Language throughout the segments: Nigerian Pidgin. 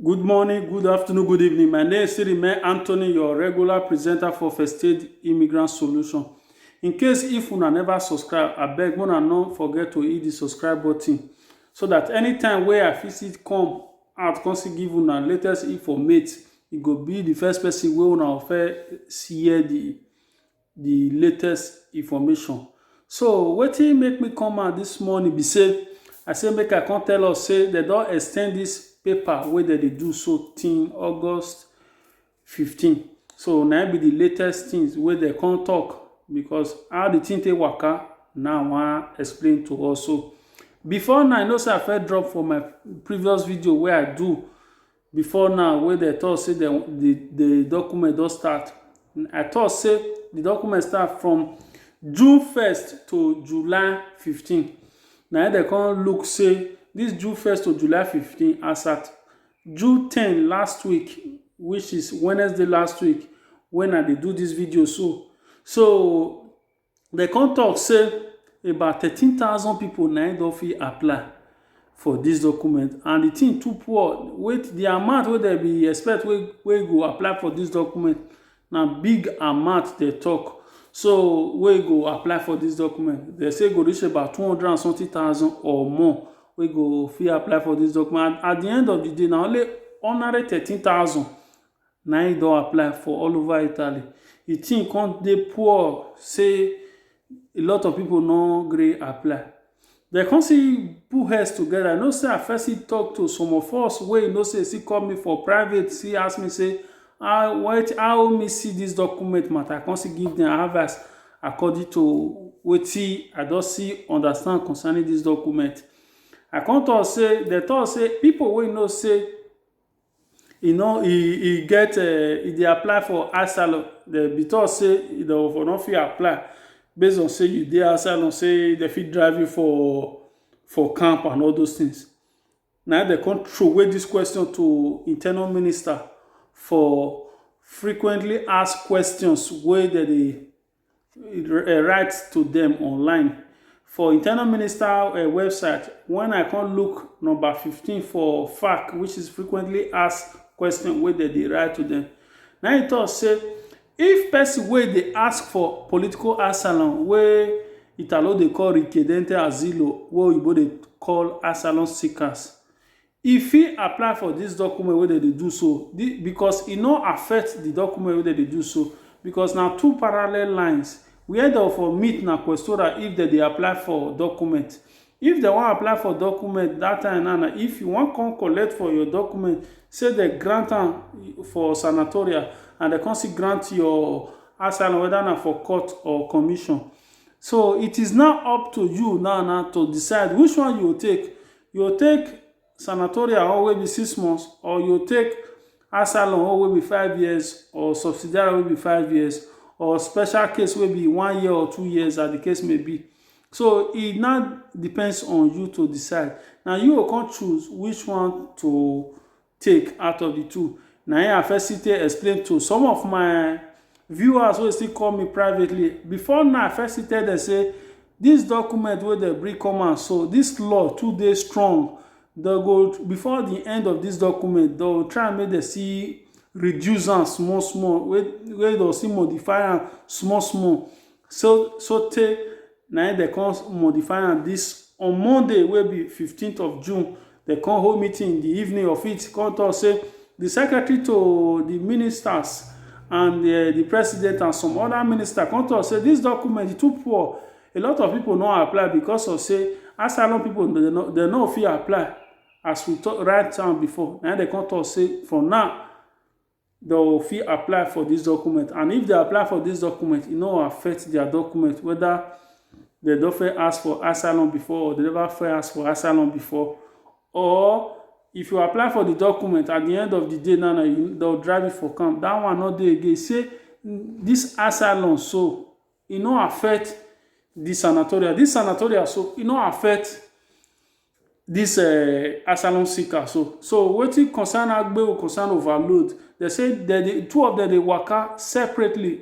Good morning, good afternoon, good evening. My name is Sirime Anthony, your regular presenter for First Aid Immigrant Solution. In case if una never subscribe, I beg una no forget to hit the subscribe button so that anytime wey I visit come out come see give una latest informate, you go be the first person wey una offer see the the latest information so wetin make me come out this morning be say i say make i come tell us say they don extend this paper wey dem dey do so till august 15 so na be the latest things wey dem come talk because how the thing take waka now i wan explain to us so before now i know say i first drop for my previous video wey i do before now wey dem talk say dem the the document don start i talk say the document start from june first to july fifteen na im dem come look say this june first to july fifteen as at june ten last week which is wednesday last week when i dey do this video so so Dem come talk say about thirteen thousand people na im don fit apply for this document and the thing too poor wey the amount wey dem be expect wey wey go apply for this document na big amount dem talk so wey go apply for this document dem say e go reach about two hundred and something thousand or more wey go fit apply for this document and at the end of the day na only ordinary thirteen thousand na im e don apply for all over Italy. The thing come dey poor say a lot of people no gree apply. They come see put heads together. You know say I first see talk to some of us wey you know say still call me for private, still ask me say how what how me see this document matter. I come still give them advice according to wetin I don see understand concerning this document. I come talk say they talk say people wey you know say e no e e get eh, e dey apply for asylum dem be talk say e don for no fit apply based on say you dey asylum say dem fit drive you for for camp and all those things na im dem come throway this question to internal minister for frequently asked questions wey dem dey eh, write to them online for internal minister uh, website when i come look number 15 for fac which is frequently asked question wey dem dey write to them. na im tok say if person wey dey ask for political asylum wey italo dey call richiedente asilo wey oyibo dey call asylum seekers E fit apply for dis document wey dem dey do so because e no affect di document wey dem dey do so because na two parallel lines where dem for meet na questora if dem dey apply for document. If dem wan apply for document dat time now na if you wan come collect for your document sey dem grant am for sanatoria and dem come still grant your asylum whether na for court or commission. So it is now up to you now now to decide which one you go take You take sanatorial or wey be six months or you take asylum or wey be five years or subsidiary wey be five years or special case wey be one year or two years as the case may be. So e now depends on you to decide. Na you go come choose which one to take out of the two na him I first still take explain to some of my viewers wey still call me privately before now I first still tell them say this document wey dem bring come out so this law too dey strong dem go before the end of this document dem go try make dem see reduce am small small wey wey dem still modify am small small so sotey na im dem come modify am this on Monday wey be fifteenth of June dem come hold meeting in the evening of it come talk say the secretary to the ministers and uh, the president and some other minister come talk say this document too poor a lot of people no apply because of say asylum people dem no dem no fit apply as we talk write am before na im dem come talk say for now they will fit apply for this document and if they apply for this document it no affect their document whether they don't first ask for asylum before or they never first ask for asylum before or if you apply for the document at the end of the day now na you they'll drive you for camp that one not dey again say this asylum so e no affect di sanatoria dis sanatoria so e no affect dis eh, asylum seeker so so wetin concern agbeo concern overload dem say dem dey two of dem dey waka separately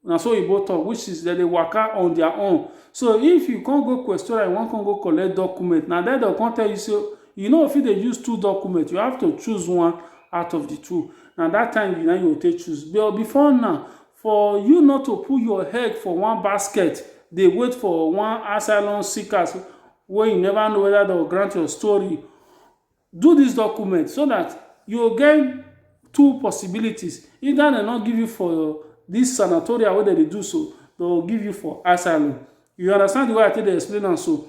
na so oyibo talk which is dem dey waka on their own so if you come go questora you wan come go collect document na there dem come tell you say you no fit dey use two document you have to choose one out of the two na that time you na you go take choose but before now For you not to put your head for one basket dey wait for one asylum seekers wey you never know whether dem go grant your story, do this document so that you go get two possibilities either dem no give you for this sanatorium wey dem dey do so, dem go give you for asylum. You understand the way I take dey explain am so?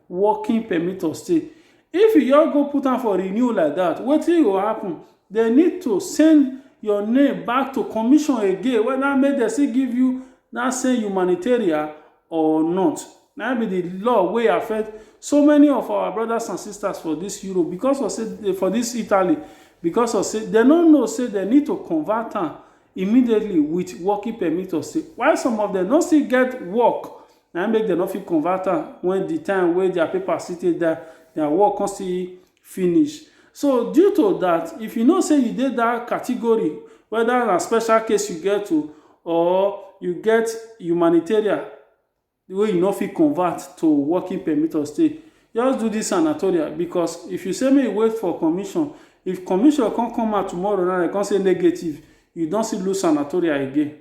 working permit or stay. If you just go put am for renew like that, wetin go happen? They need to send your name back to commission again whether make dem still give you that same humanitarian or not. Na be the law wey affect so many of our brothers and sisters for this Europe because of say for this Italy because of say dem no know say dem need to convert am immediately with working permit or stay while some of them no still get work na im make dem no fit convert am when the time wey their paper still take die their work come still finish so due to that if you know say you dey that category whether na special case you get to or you get humanitarian wey you no fit convert to working permit or stay just do this sanatoria because if you say make you wait for commission if commission come come out tomorrow now dem come say negative you don still lose sanatoria again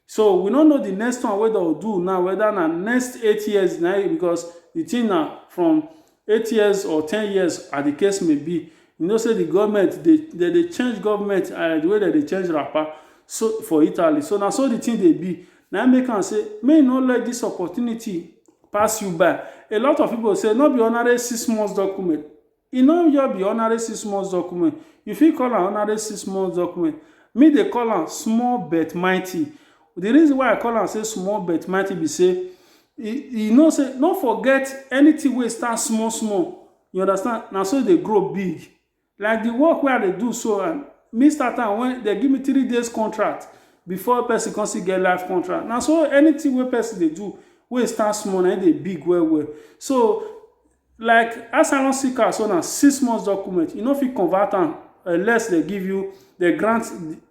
So we no know the next one wey dem do now whether na next eight years na e because the thing na from eight years or ten years as the case may be you know say the government dey they dey change government uh, the way they dey change wrapper so for Italy so na so the thing dey be na im make am say may you no let this opportunity pass you by a lot of people say no be ordinary six months document E no just be ordinary six months document, you fit call am ordinary six months document, me dey call am small but mighty. The reason why I call am say small but mighty be say e e know say no forget anything wey start small small, you understand, na so e dey grow big. Like the work wey I dey do so and me start am when dem give me three days contract before person come still get life contract. Na so anything wey person dey do wey start small na im dey big well well. So, like asylum seeker so na six months document you no fit convert am unless they give you they grant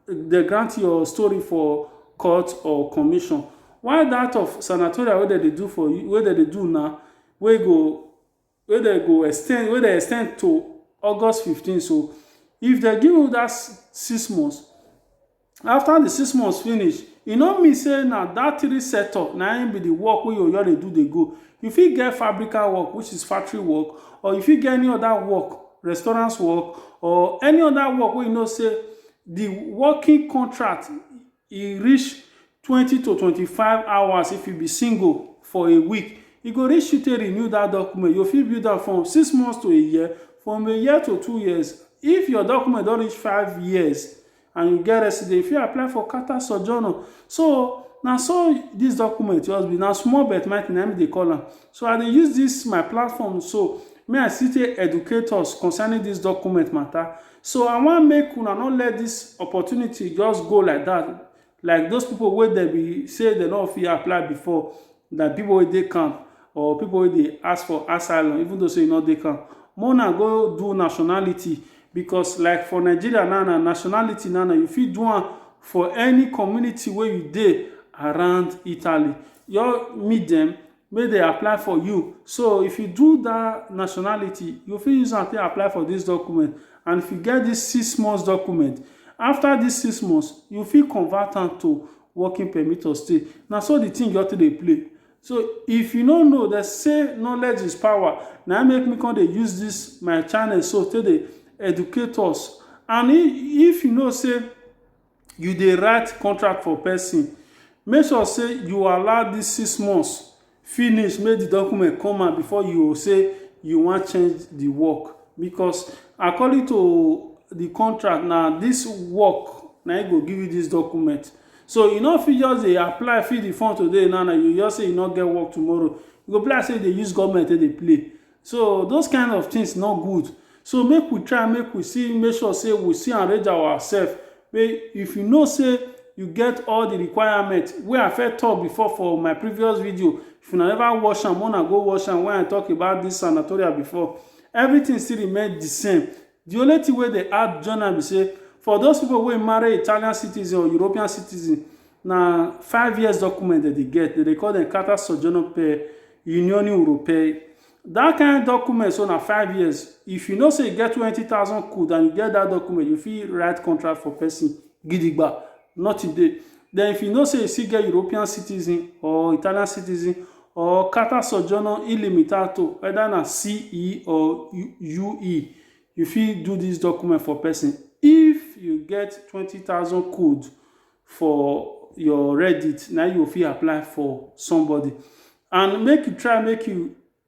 they grant your story for court or commission while that of sanatorial wey dem dey do for you wey dem dey do now wey go wey dem go extend wey dem extend to august fifteen so if dem give you that six months After the six months finish, e no mean say na that three setup na im be the work wey your oyo dey do dey go. You fit get fabrical work which is factory work or you fit get any other work, restaurants work or any other work wey you know say the working contract e reach twenty to twenty five hours if you be single for a week. E go reach you take renew that document. You go fit view that from six months to a year, from a year to two years. If your document don reach five years, and you get resident, you fit apply for Carter Sojourner. So na so this document just be, na small but mighty na me dey call am. So I dey use this my platform so may I still take educate us concerning this document matter. So I wan make una no let this opportunity just go like that. Like those people wey dem be say dem no fit apply before, na people wey dey camp or people wey dey ask for asylum even though say you no dey camp. Make una go do nationality Because like for Nigeria now na nationality now na you fit do am for any community wey you dey around Italy. Your meet dem make dem apply for you. So if you do dat nationality, you fit use am take apply for dis document. And if you get dis six months document, after dis six months, you fit convert am to working permit of stay. Na so the thing just take dey play. So if you no know dem say knowledge is power na im make me come dey use this my channel so take dey educate us and if you know say you dey write contract for person make sure say you allow this six months finish make the document come out before you say you wan change the work because according to the contract na this work na im go give you this document So you no fit just dey apply, fill the form today now, now you just say you no get work tomorrow. You go be like say you dey use government take dey play. So those kind of things no good. So make we try, make we see, make sure say we see arrange ourselves. Wey if you know say you get all the requirement wey I first talk before for my previous video, if una never watch am, una go watch am when I talk about this sanatoria before. Everything still remain the same. Di only tin wey dey add join am be say for those pipo wey marry Italian citizen or European citizen, na five years document dem dey get, dem dey call dem carta soggiorno per l'Unione europea. Dat kain document so na five years, if you know say you get twenty thousand quid and you get dat document, you fit write contract for pesin gidigba Nothing dey. Then if you know say you still get European citizen or Italian citizen or Qatar Sojourno Illimitato, whether na CE or UE, you fit do this document for person if you get twenty thousand code for your Reddit, na you go fit apply for somebody and make you try make you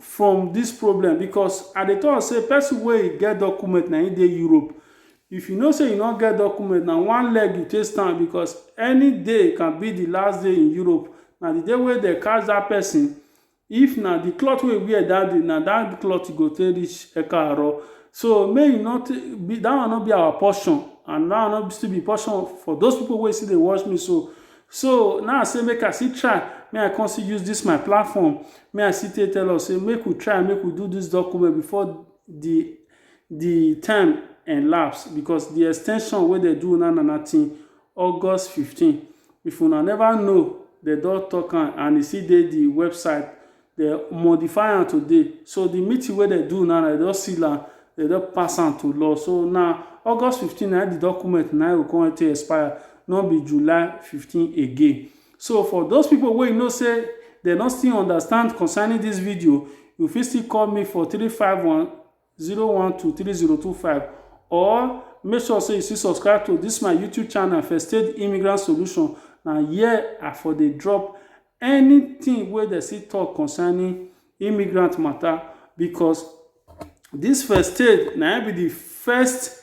from this problem because I dey talk say person wey get document na him dey Europe. If you know say you no get document na one leg you take stand because any day can be the last day in Europe. Na the day wey dem catch that person if na the cloth wey you wear that day na that cloth you go take reach Ekaaro. So make you no take that one no be our portion and that one no still be portion for those people wey still dey watch me so. So now I say make I still try, make I come still use this my platform, make I still take tell us say make we try, make we do this document before the the time elapse because the extension wey dem do una na na till August fifteen. If una never know, dem don talk am and e still dey the website Dem modify am today. So the meeting wey dem do now, dem don seal am, dem don pass am to law. So na August fifteen na im the document na im go come take expire, no be July fifteen again. So for those people wey you know say dem no still understand concerning this video, you fit still call me for three five one 0123025 or make sure say you still subscribe to this my youtube channel first aid immigrant solution na here i for dey drop anything wey dem still talk concerning immigrant matter because this first aid na be the first